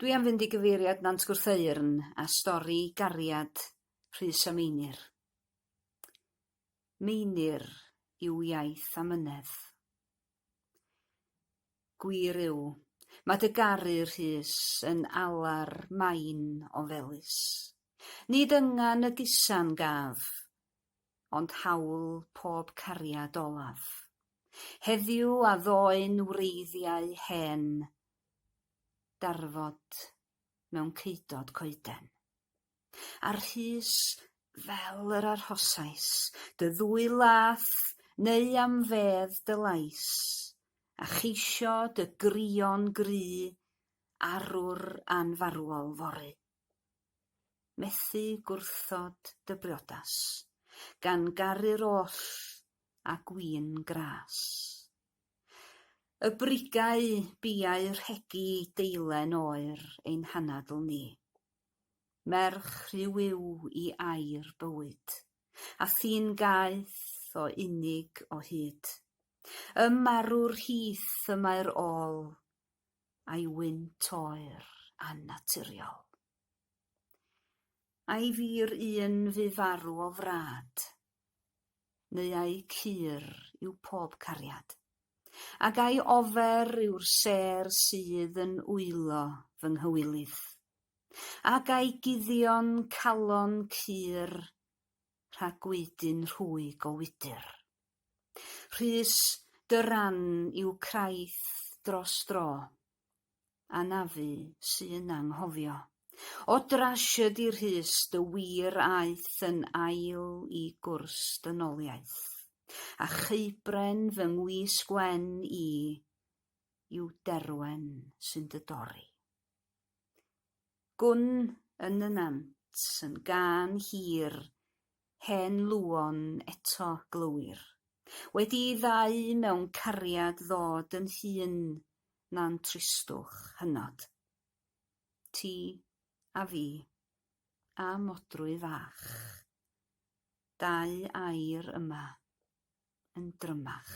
Dwi am fynd i gyfeiriad Nant Gwrtheyrn a stori gariad Rhys a Meinir. Meinir yw iaith amynedd. Gwir yw, mae dy garu, Rhys, yn alar main o felys. Nid yngan y gusan gaf, ond hawl pob cariad olaf. Heddiw a ddoe'n wreiddiau hen darfod mewn ceudod coeden. A rhys fel yr arhosais dy ddwy lath neu am fedd dy lais, a cheisio dy grio'n gry arwr anfarwol fory. Methu gwrthod dy briodas, gan garu'r oll a gwin gras. Y brigau biau rhegi deilen oer ein hanadl ni. Merch rhyw yw i air bywyd, a thyn gaeth o unig o hyd. Ym marw'r hith y mae'r ôl, a'i wynt oer a naturiol. Ai fi'r un fu farw o frad, neu ai cur yw pob cariad? Ac ai ofer yw'r sêr sydd yn wylo fy nghywilydd? Ac ai guddion calon cur rhag gweidyn rhwyg o wydr? Rhys, dy ran yw craith dros dro. Anafu sy'n anghofio. O drasied i Rhys dy wir aeth yn ail i gwrs dynoliaeth, a cheubren fy ngwis gwen i yw Derwen sy'n dy dorri. Gwn yn y nant yn gân hir Hen Luon eto, glywir. Wedi'i ddau mewn cariad ddod yn hŷn na'n tristwch hynod. Ti a fi. A Modrwy Fach. Dau air yma. Yn drymach.